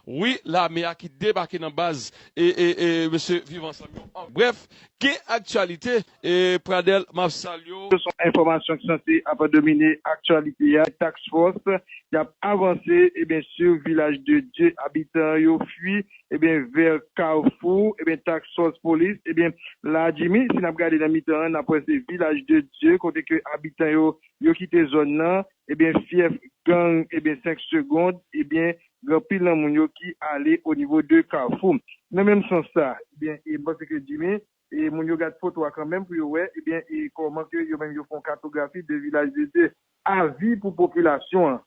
Wi lame a ki debake nan baz e e e mesye viv ansanm yo an brèf gen aktyalite e pradel map salye w. Se yon enfòmasyon ki sanse ap domine aktyalite a, task force ki ap avanse ebyen sur village de Dieu abitan yo fui ebyen vers Carrefour ebyen task force police ebyen la Jimmy si nap gade nan mitan an nap wè se village de Dieu kote ke abitan yo yo kite zòn nan ebyen fièf gang ebyen 5 secondes ebyen gen anpil nan moun yo ki ale o nivo de kafou nan menm sans sa ebyen e m panse ke Jimmy e moun yo gad foto a kanmenm pou yo wè ebyen e kòman ke yo menm yo fè yon katografi de Vilaj de Dye. Avi pou popilasyon an.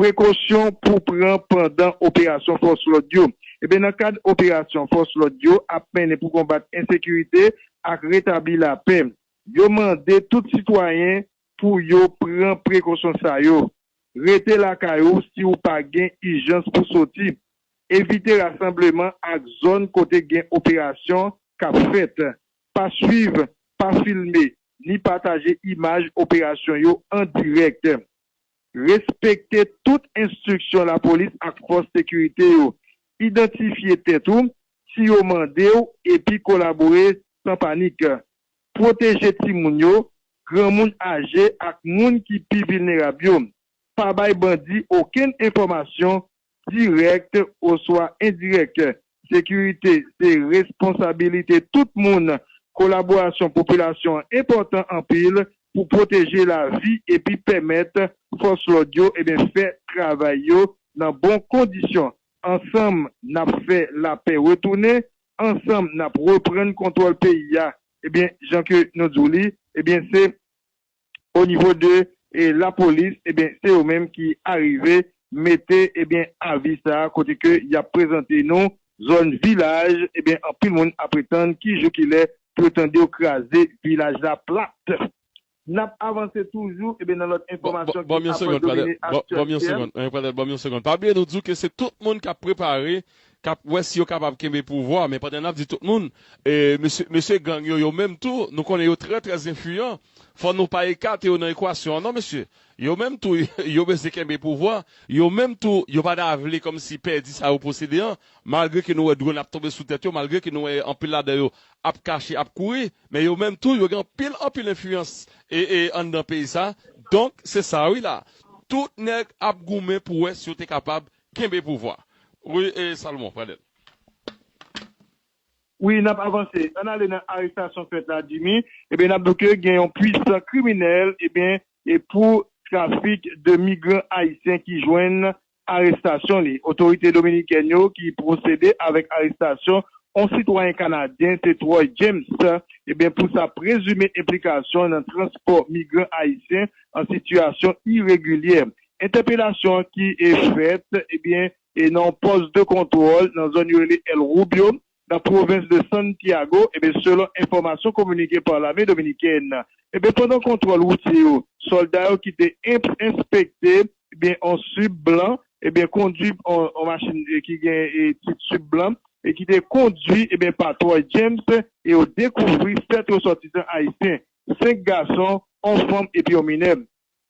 Prekosyon pou pran pandan operasyon fòs lòd yo Ebyen nan kad operasyon fòs lòd yo ap mennen pou konbat ensekirite ak retabli lapè, yo mande tout sitwayen Pou yo pran prekosyon sa yo, Rete lakay ou si ou pa gen ijans pou soti. Evite rasanbleman ak zòn kote gen operasyon k ap fèt. Pa swiv, pa filme, ni pataje imaj operasyon yo an dirèk. Respekte tout enstriksyon lapolis ak fòs sekirite yo. Idantifye tèt ou si yo mande w epi kolabore san panik. Pwoteje timoun yo, granmoun aje ak moun ki pi vilnerab yo. Pa bay bandi okenn enfòmasyon, dirèk oswa endirèk. Sekirite se responsabilite tout moun. Kolaborasyon popilasyon an enpòtan anpil pou pwoteje lavi epi pèmèt fòs lòd yo fè travay yo nan bon kondisyon. Ansanm, n ap fè lapè retounen Ansanm nap reprann kontwòl peyi a ebyen jan ke nou di w li ebyen se o nivo de la polis ebyen se yo menm ki arive mete ebyen avi sa kote ke yap prezante nou zòn vilaj ebyen anpil moun ap pretann ki jou ki lè pou yo tande yo kraze vilaj la plat Nap avanse toujou e nan lòt enfòmasyon ki apan domine aktyalite. Banm yon segond Pradel, banm yon segond. Pa bliye nou di w ke se tout moun kap prepare, kap wè si yo kapab kenbe pouvwa, men pandan nap di tout moun, mesye gang yo yo menm tou, nou konnen yo trè trè enfliyan, fò nou pa ekate yo nan ekwasyon an non mesye. Yo menm tou yo bezwen kenbe pouvwa, yo menm tou yo pa ta vle kòmsi pèdi sa yo posede an, malgre ke nou wè dronn ap tonbe sou tèt yo, malgre ke nou wè anpil ladan yo ap kache, ap kouri. Men yo menm tou yo gen anpil anpil enfliyans anndan peyi sa, donk se sa wi la. Tout nèg ap goumen pou wè si yo te kapab kenbe pouvwa. Wi Salomon, prale. Wi nap avanse. Ann ale nan arestasyon fèt la Jimmy, ebyen nap di w ke gen yon pwisan kriminèl ebyen pou trafik de migran ayisyen ki jwenn arestasyon li. Otorite dominikèn yo ki pwosede avèk arestasyon on sitwayen kanadyen se Troy James ebyen pou sa prezime enplikasyon nan transpò migran ayisyen an sitiyasyon iregilyè. Entèpelasyon an ki fèt ebyen nan on pòs de kontwòl nan zòn yo rele El Rubio nan pwovens de Santiago, enben selon enfòmasyon kominike pa lame dominikèn, enben pandan kontwòl woutye yo, sòlda yo ki te enspekte, enben on sub blan, enben kondwi on machin ki gen tit sub blan e ki te kondwi enben pa Troy James e yo dekouvri 7 resòtisan ayisyen, 5 gason, on fanm epi on minè.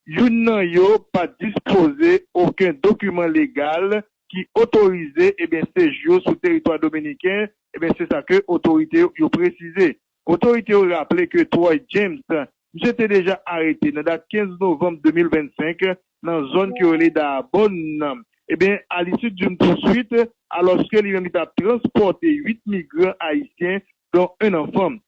Youn nan yo pa dispoze oken dokiman legal ki otorize ebyen seji yo sou teritwa dominiken, ebyen se sa ke otorite yo presize. Otorite yo raple ke Troy James, misye te deja arete nan dat 15 novanm 2025 nan zòn ke yo rele Dahbonne nan, ebyen a lisid youn pouswit, alòske li menm li tap transpòte 8 migran ayisyen don 1 anfan.